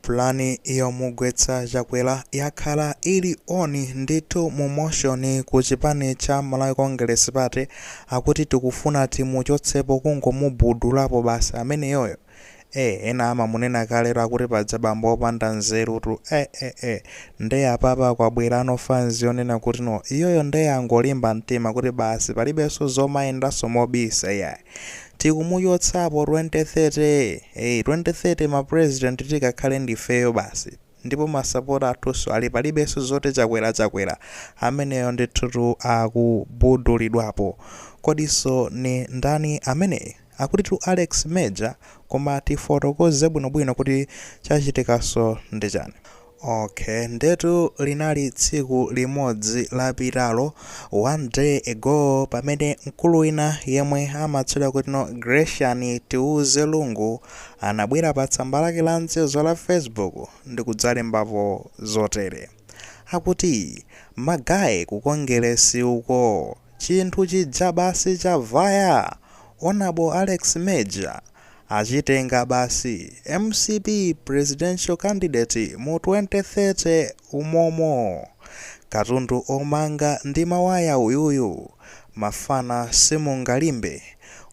Plan yomugwetsa Chakwera yakhala ili on ndithu mu motion ku chipani cha Malawi Congress Party akuti tikufuna timuchotsepo, kungomubudulapo basi ameneyoyo ee ena amamunena kalero akuti paja bambo opanda nzerutu ee ee ee nde apapa kwabwerano fans yonena kuti no iyoyo nde angolimba mtima kuti basi palibenso zomayendanso mobisa iyayi tikumuchotsapo 2030 ee 2030 ma president tikakhale ndifeyo basi ndipo masapota athunso ali palibenso zoti chakwera chakwera ameneyo ndithutu akubudulidwapo kodinso ni ndani ameneyu akutitu alex major koma tifotokoze bwinobwino kuti chachitikanso ndichani Ok ndetu linali tsiku limodzi lapitalo, one day ago, pamene mkulu wina yemwe amatchedwa kuti no Gracian Tiuze Lungu anabwera pa tsamba lake la mchezo la Facebook ndikudzalembapo zotere. Akuti magaye ku Kongelesi uko chinthu chija basi chavaya! Honourable Alex Major! Achitenga basi mcp presidential candidate mu 2030 umomo. Katundu omanga ndi mawaya uyuyu. Mafana simungalimbe.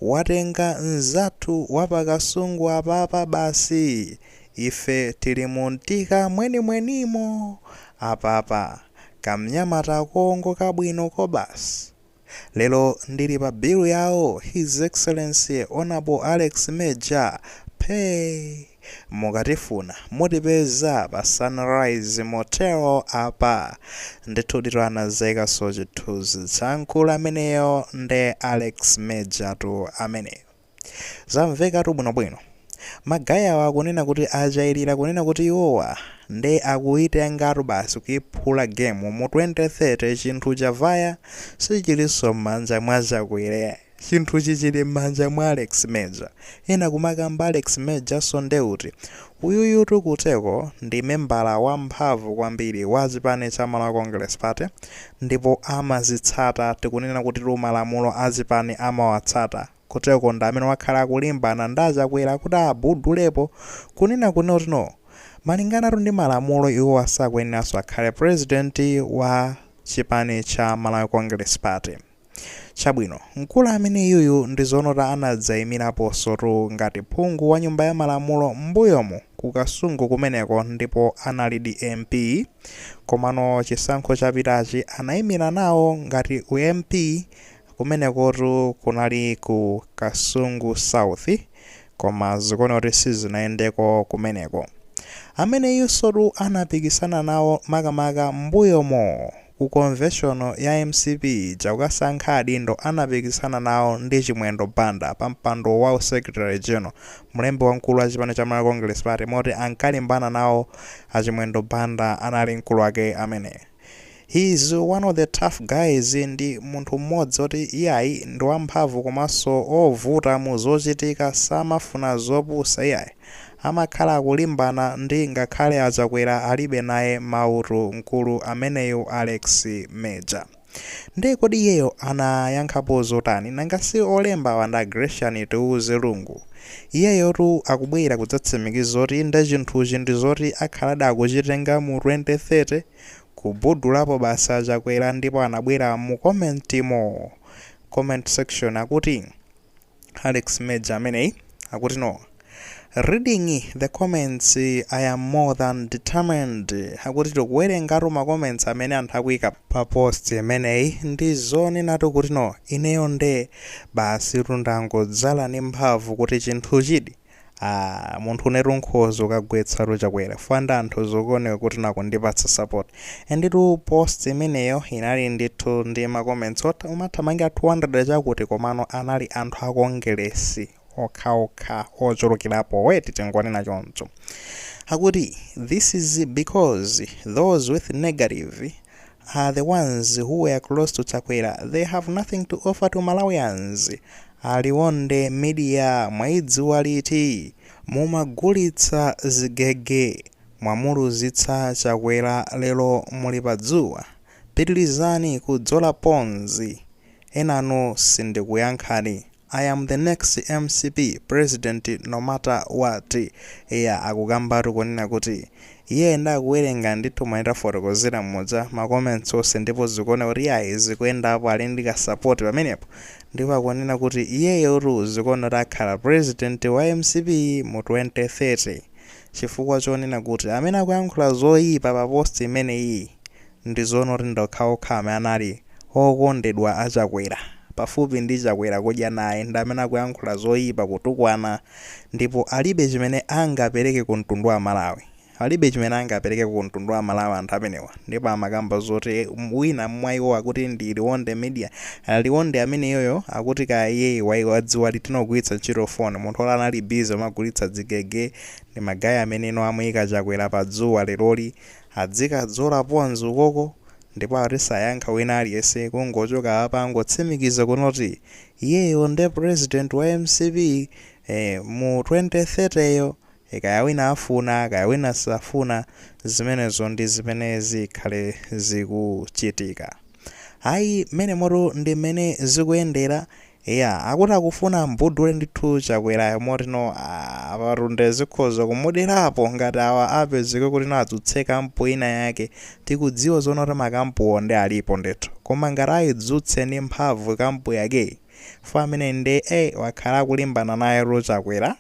Watenga nzathu wa pa Kasungu apapa basi. Ife tili mu Mtika mwenimwenimo apapa. Kamnyamata koongoka bwino kobasi. Lero ndili pa bill yawo His Excellency Hon Alex Major phee! Mukatifuna mutipeza pa Sunrise Motel apa. Ndithuditu anadzaikanso chithunzi cha mkulu ameneyo nde Alex Major tu ameneyo. Zamvekatu bwinobwino. Magaye awa akunena kuti achailira kunena kuti iwowa nde akuitengatu basi kuiphula game mu 2030 chinthu chavaya sichilinso mmanja mwa Chakwera chinthuchi chili mmanja mwa Alex Major. Ena kumakamba Alex Major-nso nde uti? Uyuyutu kuteko ndi membala wamphamvu kwambiri wa chipani cha Malawi Congress Party ndipo amazitsata tikunena kutitu malamulo a chipani amawatsata kuteko ndi amene wakhala akulimbana ndi achakwera kuti abudulepo kunena kuti no malinganatu ndi malamulo iwowa sakuyeneranso akhale president wa chipani cha Malawi Congress Party. Chabwino, mkulu ameneyuyu ndi zoonatu anadzaimiraponsotu ngati phungu wa nyumba ya malamulo mmbuyomu ku Kasungu kumeneko ndipo analidi MP. Komano chisankho chapitachi anaimira nawo ngati u MP kumenekotu kunali ku Kasungu South koma zikuoneka kuti sizinayendeko kumeneko. Ameneyunsotu anapikisana nawo makamaka mmbuyomu. Ku convention ya mcp ija kukasankha adindo anapikisana nawo ndi Chimwendo Banda pa mpando wa u secretary general, mlembi wamkulu wa chipani cha Malawi Congress Party, moti ankalimbana nawo a Chimwendo Banda anali mkulu wake ameneyo. He is one of the tough guys ndi munthu mmodzi woti iyayi ndi wamphamvu komanso ovuta mu zochitika samafuna zopusa iyayi. Amakhala akulimbana ndi ngakhale a Chakwera alibe naye mautu mkulu ameneyu Alex Major. Nde kodi iyeyo anayankhapo zotani? Nanga si olembawa nda Gracian Tiuze Lungu. Iyeyotu akubwera kudzatsimikiza zoti inde chinthuchi ndi zoti akhaladi akuchitenga mu 2030. Kubhudulapo basi a Chakwera ndipo anabwera mu comment mo comment section akuti. alex major ameneyu akuti no reading the comments i am more than determined akuti ndikuwerengatu ma comments amene anthu akuika pa post imeneyi ndi zoonatu kuti no ineyo nde basi tu ndangodzala ndi mphamvu kuti chinthuchidi Aaa munthu inetu nkhoza kukagwetsatu chakwera chifukwa anthu zikuoneka kuti akundipatsa support enditu post imeneyo inali ndithu ndi ma comments omathamangira 200 chakuti komano anali anthu a kongelesi okhaokha ochulukirapo eti tingonena choncho akuti this is because those with negative are the ones who were close to Chakwera they have nothing to offer to Malawians A Liwonde media mwaidziwa liti mumagulitsa zigege mwamuluzitsa Chakwera lero muli padzuwa pitilizani kudzola ponzi enanu sindikuyankhani I am the next mcp president no matter what eya akukambatu kunena kuti iyeyo wakhala akuwerenga ndithu momwe tafotokozera muja ma comments onse ndipo zikuoneka kuti yayi zikuyendapo ali ndi ka support pamenepo ndipo akunena kuti iyeyotu zikuoneka kuti akhala president wa mcp mu 2030 chifukwa chonena kuti amene akuyankhula zoyipa pa post imeneyi Ndizoona kuti ndokhaokha amene anali okondedwa a Chakwera pafupi ndi Chakwera kudya naye ndi amene akuyankhula zoipa, kutukwana ndipo alibe chimene angapereke ku mtundu wa Malawi. Alibe chimene angaperekeko ku mtundu wa Malawi anthu amenewa ndipo amakamba zoti wina mwa iwo akuti ndi Liwonde Media. Liwonde ameneyoyo akuti kaya iyeyo wadziwa liti zogwiritsa ntchito phone. Munthu oti anali busy amagulitsa dzigege ndi ma guy amene amuika Chakwera pa dzuwa leroli. Adzikadzola pons ukoko ndipo akuti sayankha wina aliyense kungochoka apa angotsimikiza kunoti iyeyo nde president wa mcp ee mu 2030 yo ee kaya wina afuna kaya wina safuna zimenezo ndi zimene zikhale zikuchitika ayi mmenemotu ndi mmene zikuyendera Eya akuti akufuna ambudule ndithu chakwerayo motino apatu nde zikhoza kumuderapo ngati awa apezeke kutino adzutse camp ina yake tikudziwa zoona kuti ma camp wo nde alipo ndithu koma ngati aidzutse ndi mphamvu camp yakeyi fo ameneyi nde ee wakhala akulimbana nayetu chakwera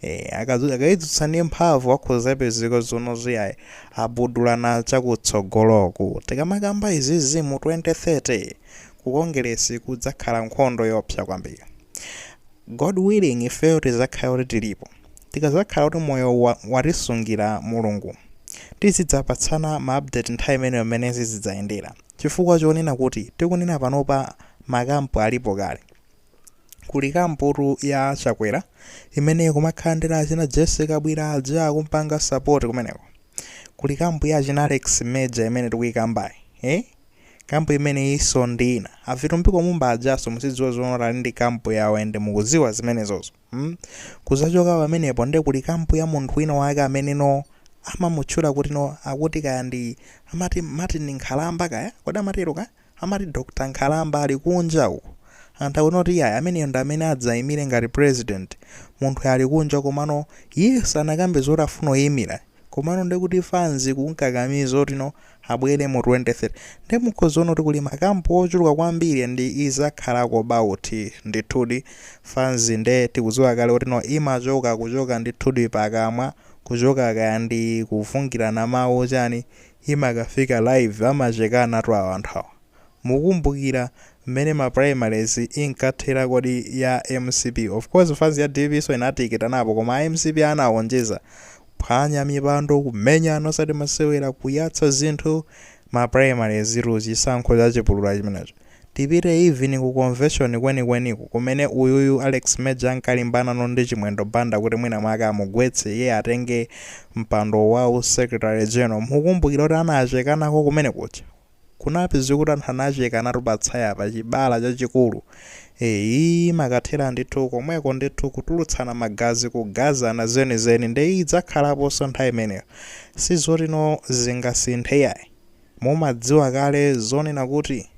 ee akaidzutsa ndi mphamvu akhoza pezeka zoona iyayi abudulana chakutsogoloku tikamakamba izizi mu 2030 ku kongeresi kudzakhala nkhondo yoopsa kwambiri god willing ifeyo tizakhala kuti tilipo tikazakhala kuti moyo watisungira mulungu tizidzapatsana ma update nthawi imeneyo mmene zizidzayendera chifukwa chonena kuti tikunena panopa makampu alipo kale Kuli kamputu ya Chakwera imene ikumakhala ndi achina Jesse Kabwira aja akumpanga support kumeneko. Kuli kampu ya achina Alex Major imene tikuyikambayi. Eh? Kampu imene iso ndi ina. A Vitumbiko Mumba ajaso muzidziwa zoona ali ndi kampu yawo ende mukuziwa zimenezozo. Hmm? Kuzachoka pamenepo nde kuli kampu ya munthu wina wake amene no amamutchula kuti no akuti kaya ndi amati Martin Nkhalamba kaya? Kodi amatero kaya? Amati Dr Nkhalamba ali kunja uko. Anthu akunena kuti iyayi ameneyo ndi amene adzaimire ngati president. Munthuyo ali kunja komano iyeyo sanakambe zoti afuna kuimira. Komano ndiye kuti fans ikumkakamiza kuti you know abwere mu 2030. Ndiye mukhoza kuona kuti kuli ma camp ochuluka kwambiri and idzakhalako bout ndithudi. Fans ndiye tikudziwa kale kuti no imachoka kuchoka ndithudi pakamwa, kuchoka kaya ndi kufungirana mawu chani, imakafika live amachekanatu awa anthu awa. mukumbukira mmene ma primaries inkathera kodi ya mcp of course fans ya dpp so inatikitanapo koma a mcp anaonjeza kuphwanya mipando kumenyana osati masewera kuyatsa zinthu ma primaries tu chisankho chachipulula chimenecho. Tipite even ku convention kwenikweniko kumene uyuyu Alex Major ankalimbanano ndi Chimwendo Banda kuti mwina mwake amugwetse iye atenge mpando wa u secretary general mukukumbukira kuti anachekanako kumene kuja kunapezeka kuti anthu anachekanatu pa tsaya pa chibala chachikulu ee zimakathera ndithu komweko ndithu kutulutsana magazi kugazana zenizeni nde idzakhalaponso nthawi imeneyo sizoti no zingasinthe iyayi Mumadziwa kale zonena kuti,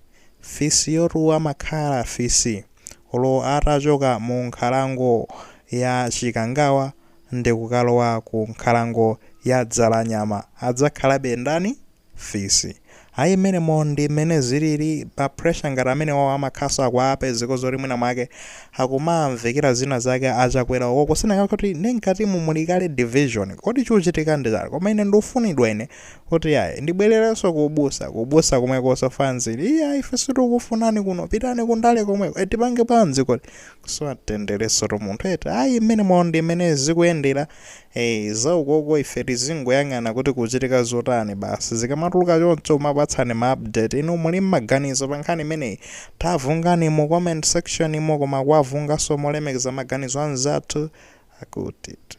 fisiyutu amakhala fisi, olo atachoka mu nkhalango ya Chikangawa ndikukalowa ku nkhalango ya Dzalanyama adzakhalabe ndani? Fisi. Ayi mmenemo ndi mmene zilili, pa pressure ngati amenewawo amakhalanso akuwapezako zoti mwina mwake akumamvekera zina zake a Chakwera ukoko. Sinanga kuti nde mkatimu muli kale division. Kodi chikuchitika ndi chani? Koma ine ndufunidwa ine Kuti yayi, ndibwererenso ku ubusa, ku ubusa komwekonso fanzi ili, iya ife sitikufunani kuno, pitani ku ndale komweko, tipange bwanji kodi? Kusowa mtenderensotu munthu eti, ayi mmenemo ndi mmene zikuyendera, eh, za ukoko ife tizingoyang'ana kuti kuchitika zotani basi, zikamatuluka choncho kumakupatsani ma update, inu muli ndi maganizo pa nkhani imeneyi? Tavungani mu comment section mo, koma kuwavunganso molemekeza maganizo a anzathu, akuti tu.